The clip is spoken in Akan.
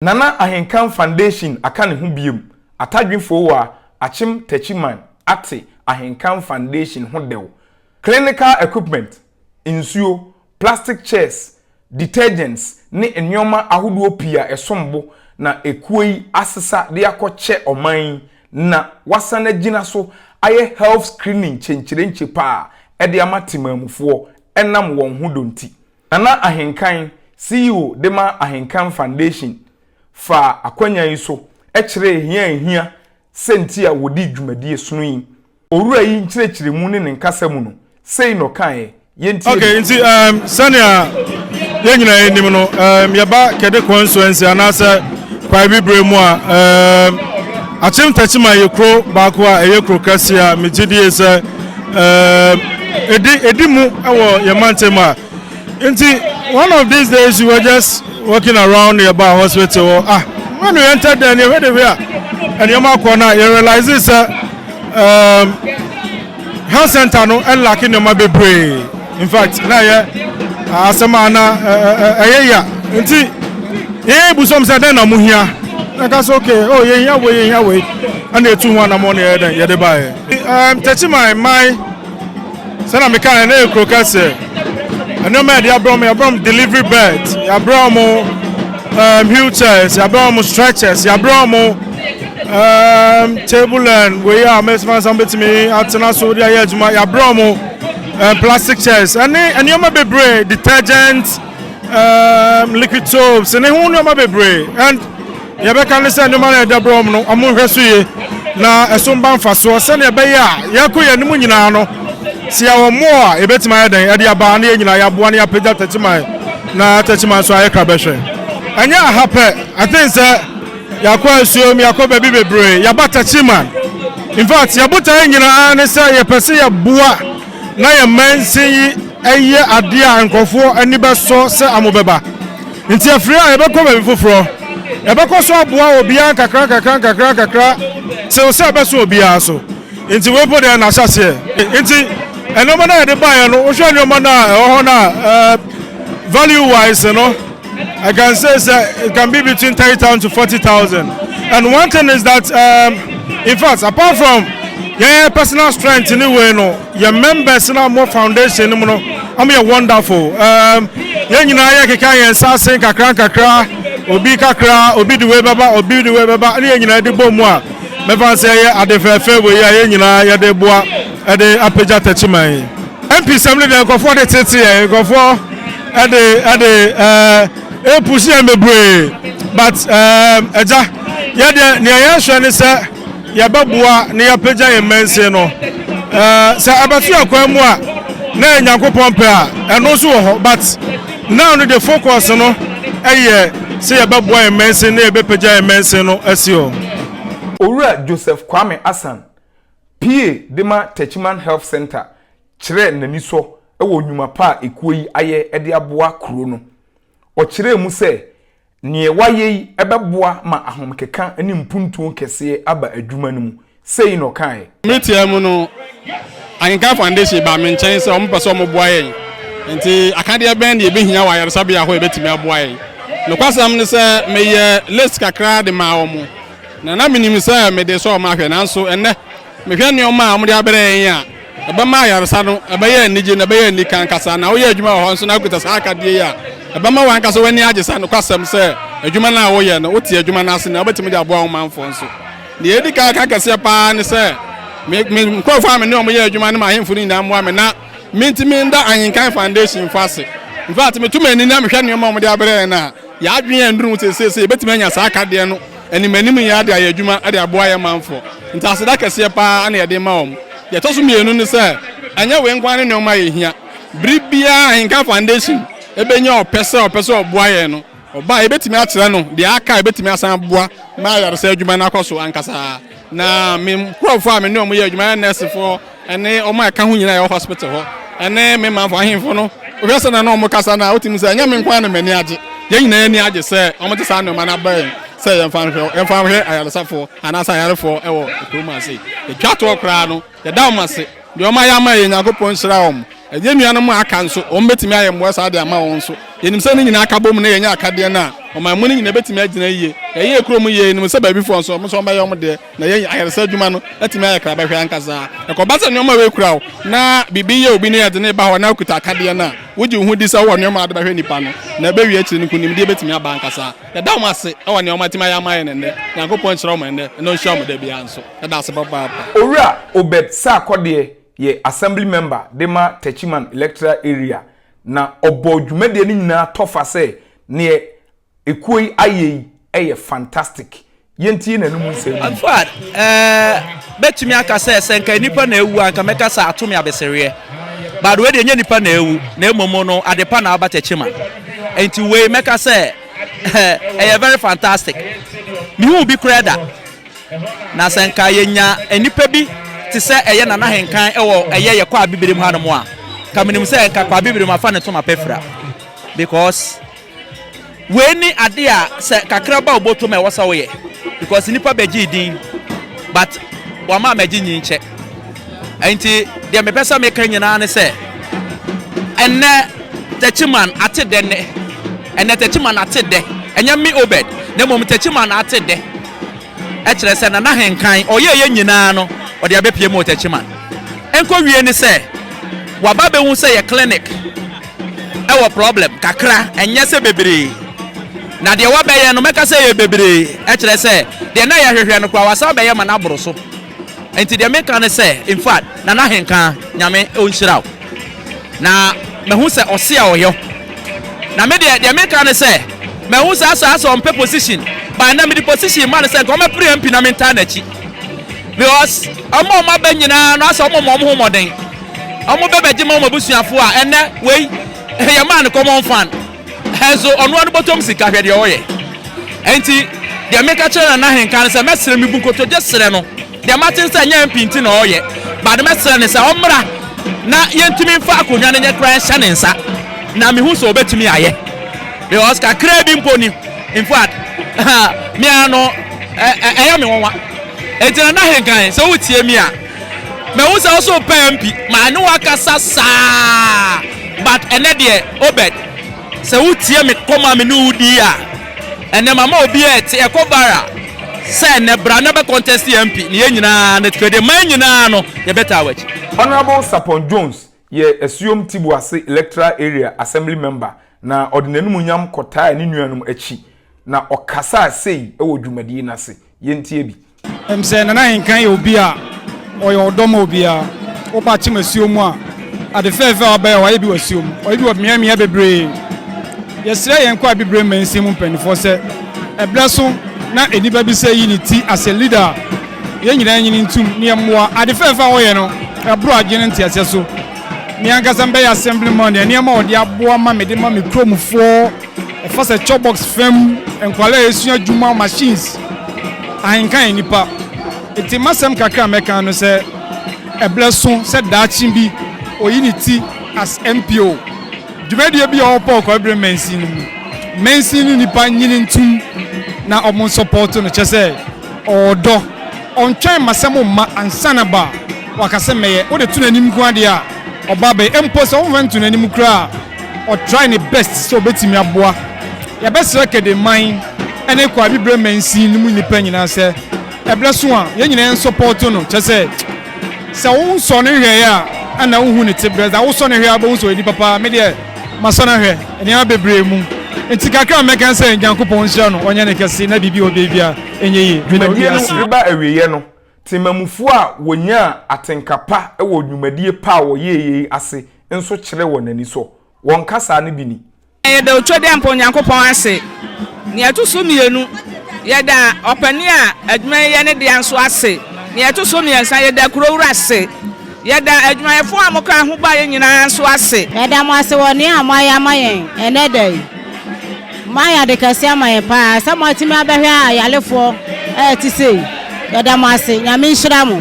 Nana Ahenkan Foundation aka ne ho biom, Atadwe Fowua, Akyem Techiman ate Ahenkan Foundation ho dɛw, Clinical equipment, nsuo, plastic chairs, detergents ne nnoɔma ahodoɔ pii a ɛsom bo na ekuo yi asesa de akɔ kyɛ ɔman yi na wasan agyina so ayɛ health screening kyenkyerenkye paa de ama Temanmufoɔ ɛnam wɔn ho dɔ nti. Nana Ahenkan, CEO de ma Ahenkan Foundation, faa akwanya yi so kyerɛɛ hia a ehia sɛ nti a wɔdi dwumadie sono yi. Owura yi nkyerɛkyerɛmu ne ne nkasa mu no, sei na ɔkaeɛ, yɛntie bi. Okay, nti um, sɛnea yɛn nyinaa yɛnim no, um, yɛba Kɛde constituency anaasɛ Kwae Bibire mu a, um, Akyem Tachiman yɛ kuro baako a ɛyɛ kuro kɛseɛ a megye die sɛ Ɛdi ɛdi mu wɔ yɛn mantam a nti one of these days you were just walking around yɛ ba hospital hɔ ah when we entered there nneɛma de hwɛ a nneɛma kɔ na yɛ realize sɛ um, health center no ɛlaki nneɛma bebree in fact na yɛ asɛm a na ɛyɛ ya nti yɛn ebusam sɛ dɛn na mo hia ɛka sɛ okay oh yɛn hia wei yɛn hia wei ɛna etu ho anamɔ na yɛ dɛn yɛde baeɛ. Um, tɛkyi my my. Sɛ na meka ɛna yɛ kuro kɛseɛ. Nneɛma yɛde abrɛ wɔn, yɛabrɛ wɔn delivery bed, yɛabrɛ wɔn um, wheelchairs, yɛabrɛ wɔn stretchers, yɛabrɛ wɔn um, table and wei a mɛsima nsa bɛtumi atena so de ayɛ adwuma, yɛabrɛ wɔn um, plastic chairs, ɛne nneɛma bebree, detergent, um, liquid soaps, ne ho nneɛma bebree and Nea yɛbɛka ne sɛ nneɛma no a ɛda berɛm no, wɔnhwɛ so yie na ɛso mma mfasoɔ sɛdeɛ ɛbɛyɛ a yɛkɔ yɛn anim nyinaa no, sɛ yɛwɔ mmoɔ a, yɛbɛtumi ayɛ dɛn de aba na yɛn nyinaa yɛaboa na yɛapagya Techiman na Techiman nso ayɛ Krabɛhwɛ. Ɛnyɛ aha pɛ, I think sɛ yɛakɔ Asuom, yɛakɔ baabi bebree, yɛaba Techiman. In fact, yɛn botaeɛ nyinaa ara ne sɛ yɛpɛ sɛ yɛboa na yɛn mansin yi yɛ adeɛ a nkurɔfoɔ ani bɛsɔ sɛ wɔbɛba. Enti afiri a yɛbɛkɔ baabi foforɔ, yɛbɛkɔ so aboa obiara nkakrankakrankakrankakra tew sɛ ɛbɛso obiara so. Enti wei mpo deɛ, na ahyɛ aseɛ. Enti nneɛma no a yɛde baeɛ no, wohwɛ nneɛma no a ɛwɔ hɔ no a, eh, value wise no, I can say sɛ it can be between thirty thousand to forty thousand. And one thing is that, um, in fact, apart from yɛn personal strength ne wei no, Yɛn members no a wɔwɔ foundation no mu no, wɔyɛ wonderful. Um, yɛn nyinaa yɛkeka yɛn nsa ase nkakra nkakra, obi kakra, obi de wei bɛba, obi de wei bɛba, ne yɛn nyinaa de bɔ mu a, mɛfa sɛ yɛyɛ ade fɛɛfɛ wei a yɛn nyinaa yɛde boa ɛde apagya takyiman yi. MP sɛm no deɛ nkurɔfoɔ de tete yɛn, nkurɔfoɔ ɛde ɛde ɛɛ epusi yɛn bebree, but ɛɛ ɛgya yɛ deɛ nea yɛhwɛ ne sɛ. yɛbɛboa na yɛapagya yɛn mmansin no. Sɛ ɛbɛto akwan mu a, na yɛ Nyankopɔn pɛ a, ɛno nso wɔ hɔ. But now no de focus no ɛyɛ sɛ yɛbɛboa yɛn mmansin na yɛbɛpagya yɛn mmansin no asi hɔ. Owura Joseph Kwame Asan, PA de ma Techiman Health Centre kyerɛɛ n'anisɔ wɔ nnwuma pa a ekuo yi ayɛ de aboa kuro no. Ɔkyerɛɛ mu sɛ, Nea wayɛ yi bɛboa ma ahomekeka ne mpuntuo kɛseɛ aba adwuma no mu, sei na ɔkaeɛ. Mmere tiaa mu no, Anglican Foundation baa me nkyɛn sɛ wɔpɛ sɛ wɔboa yɛn. Enti akadeɛ bɛn na yɛbɛhia wɔ ayaresabea hɔ a ɛbɛtumi aboa yɛn? Nokwasɛm ne sɛ, meyɛɛ list kakra de maa wɔn, na na menim sɛ mede resɔ wɔn ahwɛ, nanso ɛnnɛ, Mehwɛ nneɛma a wɔde abrɛ yɛn a, ɛbɛma ayaresa no ɛbɛyɛ anigye na ɛbɛyɛ anika ankasa. Na woyɛ adwuma wɔ hɔ nso na wokita saa akadeɛ yi a, ɛbɛma w'ankasa w'ani agye saa nokwasɛm sɛ adwuma no a woyɛ no, wote adwuma no ase na wobɛtumi de aboa wo manfoɔ nso. Deɛ ɛdi kan ka kɛseɛ pa ara ne sɛ, me, me nkurɔfoɔ a me ne wɔn yɛ adwuma ne m'ahemfo no nyinaa mmoa me na mentumi nda Ahenkan Foundation fo ase. In fact, meto m'ani na mehwɛ nneɛma a wɔde abrɛ yɛn a, Yɛn adwene a nnuru ho seesei sɛ yɛbɛtumi anya saa akadeɛ no animanim nyinaa de ayɛ adwuma de aboa yɛn manfoɔ nti aseda kɛseɛ pa ara na yɛde rema wɔn. Deɛ ɛtɔ so mmienu ne sɛ, ɛnyɛ wei nko ara ne nneɛma a yɛhia. Bere biara a Ahenka Foundation bɛnya ɔpɛ sɛ ɔpɛ sɛ ɔboa yɛn no, ɔba a, yɛbɛtumi akyerɛ no deɛ aka a yɛbɛtumi asan aboa ma ayaresa adwuma no akɔ so ankasa. Na me nkurɔfoɔ a me ne wɔn yɛ adwuma yɛ nɛɛsefoɔ ne wɔn a ɛka ho nyinaa yɛwɔ hospital hɔ ne me manfo ahemfo no wohwɛ sɛ na na wɔn kasa no a wotumi sɛ ɛnyɛ me nko na m'ani agye yɛn nyinaa ani agye sɛ wɔn de saa nneɛma no aba yɛn sɛ yɛmfa nhwɛ yɛmfa nhwɛ ayaresafoɔ anaasɛ ayarefoɔ wɔ kurom ase yɛtwa toɔ koraa no Yɛda wɔn ase. Deɛ wɔayɛ ama yɛn, Nyankopɔn nhyira wɔn. Yɛn nuanom a aka nso, wɔbɛtumi ayɛ mmoa saa de ama wɔn nso. Yɛnim sɛ ne nyinaa ka bom na yɛnya akadeɛ no a, ɔman mu no nyinaa bɛtumi agyina yie. Yɛyɛɛ kurom yie, yɛnim sɛ baabi foɔ nso, wɔn nso wɔbɛyɛ wɔn deɛ, na yɛn ayaresa adwuma no atumi ayɛ krabɛhwɛ ankasa. Ɛkɔba sɛ nneɛma wei kura wo, na biribi yɛ obi na yɛde no reba hɔ na wokuta akadeɛ no a, wogye wo ho di sɛ wowɔ nneɛma a wode bɛhwɛ nnipa no, na ɛbɛwie akyire no nkonimdie bɛtumi aba ankasa. Yɛda wɔn ase wɔ nea wɔatumi ayɛ ama yɛn ɛnnɛ. Nyankopɔn nhyira wɔn ɛnnɛ, na ɔnhyira wɔn da biara nso. ɛda ase papaapa. Owura Obed Sarkodie yɛ Assembly Member de ma Techiman Electoral Area na ɔbɔɔ dwumadie no nyinaa tɔfa sɛ neɛ ekuo yi ayɛ yi yɛ fantastic. Yɛntie n'anom nsɛm no bi. Fuad, eh, mɛtumi aka sɛ, sɛ nka nnipa na awu a, nka mɛka sɛ ato me abesereɛ. But wei deɛ ɛnyɛ nnipa na awu, na mmom no adepa na aba Techiman. Enti wei mɛka sɛ, eh, ɛyɛ very fantastic. Mehuu bi koraa da. Na sɛ nka yɛnya nnipa bi te sɛ ɛyɛ Nana Henkan wɔ ɛyɛ yɛ Kwaa Bibire mu hanom a, nka menim sɛ nka Kwaa Bibire mu afa ne toma pɛfira. Because wei ne ade a sɛ kakraba a ɔbɔ toma ɛwɔ sɛ woyɛ. Because nnipa bɛgyee din but wɔama amagye nyi nkyɛ. Ɛnti deɛ mepɛ sɛ meka nyinaa ne sɛ ɛnnɛ Takyiman ate dɛ nnɛ. Ɛnnɛ Takyiman ate dɛ. Ɛnyɛ me Obed na mmom Takyiman ate dɛ. kyerɛ sɛ na n'ahenkan ɔyɛeɛ nyinaa no ɔde abɛpue ma Otechiman. Nkɔwie ne sɛ waba abɛhu sɛ yɛ clinic wɔ problem kakra, ɛnyɛ sɛ bebree. Na deɛ wabɛyɛ no mɛka sɛ ɛyɛ bebree, ɛkyerɛ sɛ deɛ na yɛhwehwɛ no koraa wasan abɛyɛ ma no aboro so. Nti deɛ meka ne sɛ infact Nana Ahenka Nyame ɔnhyira wo na mahu sɛ ɔse a ɔyɔ na me deɛ deɛ meka ne sɛ mahu sɛ asa asɛ ɔmpɛ position but na mede position ma no sɛ nka ɔmɛpere MP na mentaa n'akyi because ɔmo a ɔmo aba nyinaa no asɛ ɔmo ma ɔmo ho mmɔden ɔmo bɛbɛgye ma ɔmo abusuafoɔ a ɛnɛ wei yɛmaa no common fan Hɛso ɔnoa no bɔtɔm sika hwɛ deɛ ɔyɛ ɛnti deɛ meka kyerɛ Nana Ahenka no sɛ mɛsrɛ mebu nkotodwe srɛ no deɛ mate nsɛ nyɛ MP nti na ɔyɛ but mɛsrɛ no sɛ ɔmmra na yɛntumi mfa akonnwa no nyɛ koraa nhyɛ ne nsa na mehu sɛ ɔbɛtumi ayɛ because kakraa bi mpo ni in fact mea no ɛyɛ me nwanwa ɛnti Nana Ahenka sɛ wotie mi a Mahu sɛ wo so repɛ MP ma ɛne wo akasa saa but ɛnɛ deɛ Obed sɛ wotie me kɔm a me ne wo di a ɛnɛ mama obiara ɛte ɛkɔ viral sɛ ɛnɛ bra na bɛ contest MP na yɛn nyinaa na twɛde man nyinaa no yɛbɛtaa w'akyi. Honourable Sarpong Jones yɛ Asuom Tibuase Electoral Area Assembly Member na ɔde n'anumunyam kɔtaa ne nuanom akyi na ɔkasaa sei wɔ dwumadie no ase. Yɛntie bi. Ɛm sɛ Nana Ahenkan yɛ obi a ɔyɛ ɔdɔ ma obiara. Woba Kyem asuo mu a, ade fɛɛfɛ a wabɛyɛ, wayɛ bi wɔ asuo mu, wayɛ bi wɔ mmeae mmeae bebree. Yɛsrɛ yɛn Kwae Abibire Mansin mu mpanimfoɔ sɛ, ɛberɛ so na nnipa bi sɛ yi ne ti asɛ leader a yɛn nyinaa nyini ntom na yɛmmoa. Ade fɛɛfɛ a wɔyɛ no, ɛboro adwene ne nteaseɛ so. Me ankasa mebɛyɛ Assemblyman a, nneɛma a wɔde aboa ma mede ma me kuromfoɔ, Ɛfa sɛ cobbox fam nkwadaa a esua adwuma machines, ahenka yɛ nnipa. Enti m'asɛm kakra a mɛka no sɛ ɛbrɛ so sɛ daakye bi oyi ne ti as MPO. Dwumadie bi a ɔwɔ Paul Kɔbere mansin no mu. Mansin no nnipa nyini ntom na wɔn nsɔpɔɔto no kyɛ sɛ ɔwɔ dɔ. Ɔntwɛn m'asɛm mma ansa na ba waka sɛ mɛyɛ. Wode to n'anim nko ara deɛ a ɔba bɛyɛ. Mpo sɛ womfa nto n'anim koraa a. ɔ try ne best sɛ ɔbɛtumi aboa. Yɛbɛsrɛ Kede man ne Kwa Abibirem mansin no mu nnipa nyinaa sɛ ɛbrɛ so a yɛn nyinaa yɛn sɔpɔɔto no kyerɛ sɛ sɛ wo nsɔ no hwɛɛ a ɛna wo hu ne te brɛ sɛ wo sɔ no hwɛ a wobɛhu sɛ ɔyɛ nipa paa me deɛ masɔ no ahwɛ nneɛma bebree mu nti kakra a mɛka sɛ Nyankopɔn nhyira no ɔnyɛ ne kɛse na biribi ɔbɛbia ɛnyɛ yie meda obiara ase. Dwumadie no reba awieɛ no, Temammufoɔ a wɔnyaa atenka pa wɔ nnwumadie pa a wɔyɛeɛ yi ase nso kyerɛɛ wɔn anisɔ. Wɔn nkasaa no bi ni. Yɛda Otwedeɛmpa Onyankopɔn ase. Nea ɛto so mmienu, yɛda ɔpanin a adwuma yi yɛ ne dea nso ase. Nea ɛto so mmiɛnsa, yɛda Kurowura ase. Yɛda adwumayɛfo a mokaa ho baeɛ nyinaa nso ase. Yɛda mo ase wɔ nea moayɛ ama yɛn ɛnnɛ da yi. Moayɛ ade kɛse ama yɛn paa sɛ moatumi abɛhwɛ ayalefoɔ a ɛte sei. Yɛda mo ase. Nyame nhyira mo.